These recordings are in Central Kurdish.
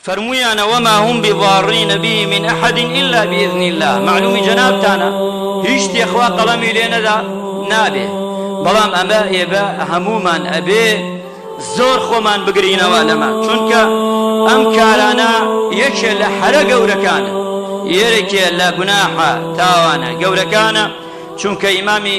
فەرموویانە وما هم بضارین به من احد الا باذن اللە، مەعلوومی جەنابتانە هیچ شتێ خوا قەڵەمی لێ نەدا نابێ، بەڵام ئەمە ئێبە هەموومان ئەبێ زۆر خۆمان بگرینەوە لەمە چونکە ئەم کارانە یەکێ لە حەرە گەورەکانە یەرێکێ لە گوناحە تاوانە گەورەکانە چونکە ئیمامی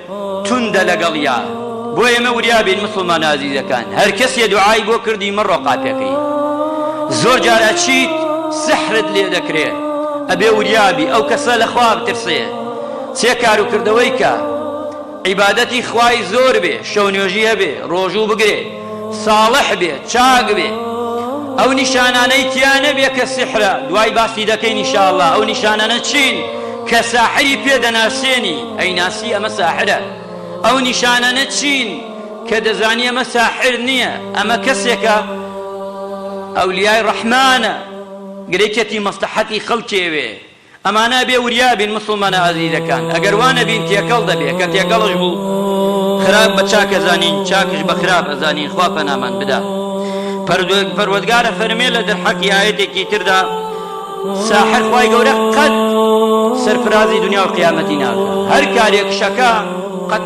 توندە لەگەڵیا بۆ ئێمە وریا بین موسڵمانە ئازیزەکان هەر کەسێ دوعای بۆ کردی مەڕۆ قاپێ کەی زۆر جار ئەچیت سحرت لێ دەکرێ ئەبێ وریا بی ئەو کەسە لە خوا بترسێ چێ کار و کردەوەی کە عیبادەتی خوای زۆر بێ شەو نوێژی هەبێ ڕۆژوو بگرێ ساڵح بێ چاک بێ ئەو نیشانانەی تیا نەبێ کە سحرە دوای باسی دەکەین انشاءاللە ئەو نیشانانە چین کە ساحری پێ دەناسێنی ئەی ناسی ئەمە ساحرە ئەو نیشانانە چین کە دەزانی ئەمە ساحر نییە ئەمە کەسێکە ئەولیای ڕەحمانە گرێکێتی مەسلحەتی خەڵکێوێ ئەمانە ئەبێ وریا بین موسڵمانە ئازیزەکان ئەگەر وا نەبین تێکەڵ دەبێ کە تێکەڵش بوو خراپ بە چاک ئەزانین چاکش بە خراپ ئەزانین خوا پەنامان بدا پەردوێک پەروەردگار ئەفەرمێ لە دەرحەقی ئایەتێکی تردا ساحر خوای گەورە قەت سەرفرازی دنیا و قیامەتی ناکە هەر کارێک شەکە قەت